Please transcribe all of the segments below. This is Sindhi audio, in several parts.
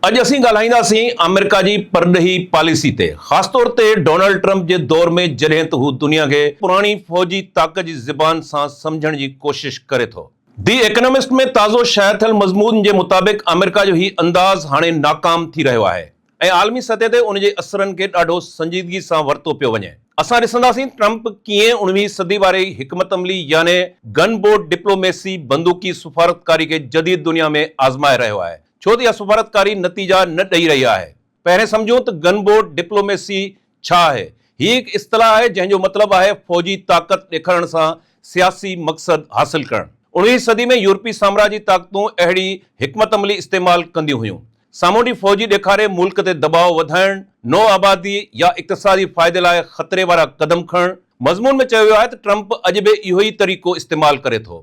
اڄ اسين ڳالهائينداسين آمريڪا جي پرڏيهي پاليسي تي خاص طور تي ڊونلڊ ٽرمپ جي دور ۾ جڏهن ته هو دنيا کي پراڻي فوجي طاقت جي زبان سان سمجهڻ جي ڪوشش ڪري ٿو. دي ايڪنامسٽ ۾ تازو شايع ٿيل مضمون جي مطابق آمريڪا جو هي انداز هاڻي ناڪام ٿي رهيو آهي ۽ عالمي سطح تي ان جي اثرن کي ڏاڍو سنجيدگي سان ورتو پيو وڃي. اسان ڏسنداسين ٽرمپ ڪيئن اڻويهين صدي واري حڪمت عملي يعني گن بوٽ ڊپلوميسي، بندوقي سفارتڪاري، کي جديد دنيا ۾ آزمائي رهيو آهي. ڇو ته اها سفارتڪاري نتيجا نه ڏئي رهي آهي. پهرين سمجهون ته گن بورڊ ڊپلوميسي ڇا آهي؟ هي هڪ اصطلاح آهي جنهن جو مطلب آهي فوجي طاقت ڏيکارڻ سان سياسي مقصد حاصل ڪرڻ. اڻويهين صدي ۾ يورپي سامراجي طاقتون اهڙي حڪمت عملي استعمال ڪنديون هيون. سامونڊي فوجي ڏيکاري ملڪ تي دٻاء وڌائڻ، نوآبادي يا اقتصادي فائدي لاء خطري وارا قدم کڻڻ. مضمون ۾ چيو ويو آهي ته ٽرمپ اڄ به اهو ئي طريقو استعمال ڪري ٿو.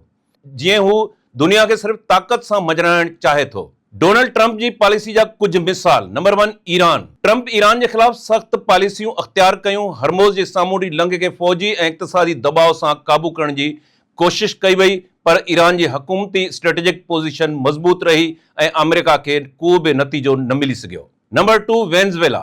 جيئن هو دنيا کي صرف طاقت سان مڄرائڻ چاهي ٿو. ڊونلڊ ٽرمپ جي پاليسي جا ڪجهه مثال، number one Iran, Trump Iran جي خلاف سخت پاليسيون اختيار ڪيون، هرموز جي سامونڊي لنگهه کي فوجي ۽ اقتصادي دٻاء سان قابو ڪرڻ جي ڪوشش ڪئي وئي پر ايران جي حڪومتي اسٽريٽجڪ پوزيشن مضبوط رهي ۽ آمريڪا کي ڪو به نتيجو نه ملي سگهيو. Number two Venezuela,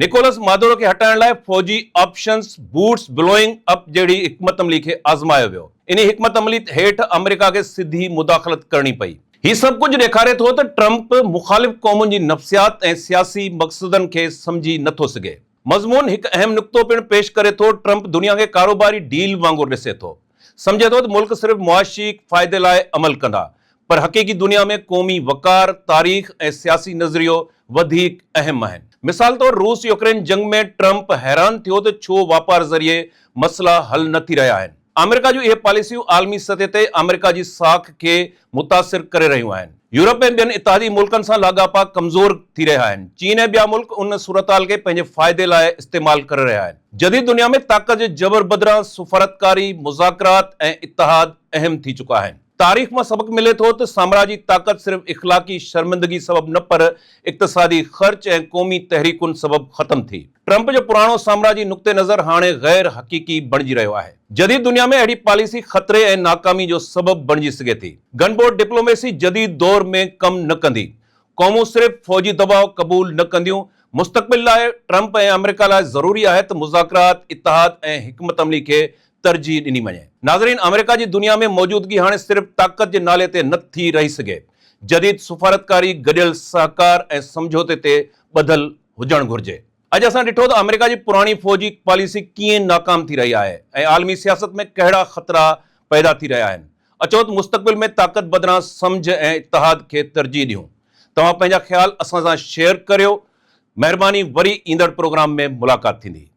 Nicolas Maduro کي هٽائڻ لاء فوجي آپشنز بوٽس بلوئنگ اپ جهڙي حڪمت عملي کي آزمايو ويو. انهي حڪمت عملي هيٺ آمريڪا کي سڌي مداخلت ڪرڻي پئي. هي سڀ ڪجهه ڏيکاري ٿو ته ٽرمپ مخالف قومن جي نفسيات ۽ سياسي مقصدن کي سمجهي نه ٿو سگهي. مضمون هڪ اهم نقطو پڻ پيش ڪري ٿو، ٽرمپ دنيا کي ڪاروباري ڊيل وانگر ڏسي ٿو. سمجهي ٿو ته ملڪ صرف معاشي فائدي لاء عمل ڪندا پر حقيقي دنيا ۾ قومي وقار، تاريخ ۽ سياسي نظريو وڌيڪ اهم آهن. مثال طور روس يوڪرين جنگ ۾ ٽرمپ حيران ٿيو ته ڇو واپار ذريعي مسئلا حل نه ٿي رهيا آهن. آمريڪا جون اهي پاليسيون عالمي سطح تي آمريڪا جي ساک کي متاثر ڪري رهيون آهن. يورپ ۽ ٻين اتحادي ملڪن سان لاڳاپا ڪمزور ٿي رهيا آهن. چين ۽ ٻيا ملڪ ان صورتحال کي پنهنجي فائدي لاء استعمال ڪري رهيا آهن. جديد دنيا ۾ طاقت جي جبر بدران سفارتڪاري، مذاڪرات ۽ اتحاد اهم ٿي چڪا آهن. تاريخ مان سبق ملي ٿو ته سامراجي طاقت صرف اخلاقي شرمندگي سبب نه پر اقتصادي خرچ ۽ قومي تحريڪن سبب ختم ٿي. ٽرمپ جو پراڻو سامراجي نقطه نظر هاڻي غير حقيقي بڻجي رهيو آهي. جديد دنيا ۾ اهڙي پاليسي خطري ۽ ناڪامي جو سبب بڻجي سگهي ٿي. گن بورڊ ڊپلوميسي جديد دور ۾ ڪم نه ڪندي. قومون صرف فوجي دٻاء قبول نه ڪنديون. مستقبل لاء ٽرمپ ۽ آمريڪا لاء ضروري آهي ته مذاڪرات، اتحاد ۽ حڪمت عملي کي ترجيح ڏني وڃي. ناظرين آمريڪا جي دنيا ۾ موجودگي هاڻي صرف طاقت جي نالي تي نه ٿي رهي سگهي. جديد سفارتڪاري گڏيل سهڪار ۽ سمجهوتي تي ٻڌل هجڻ گهرجي. اڄ اسان ڏٺو ته آمريڪا جي پراڻي فوجي پاليسي ڪيئن ناڪام ٿي رهي آهي ۽ عالمي سياست ۾ ڪهڙا خطرا پيدا ٿي رهيا آهن. اچو ته مستقبل ۾ طاقت بدران سمجهه ۽ اتحاد کي ترجيح ڏيون. توهان پنهنجا خيال اسان سان شيئر ڪريو. مهرباني وري ايندڙ پروگرام ۾ ملاقات ٿيندي.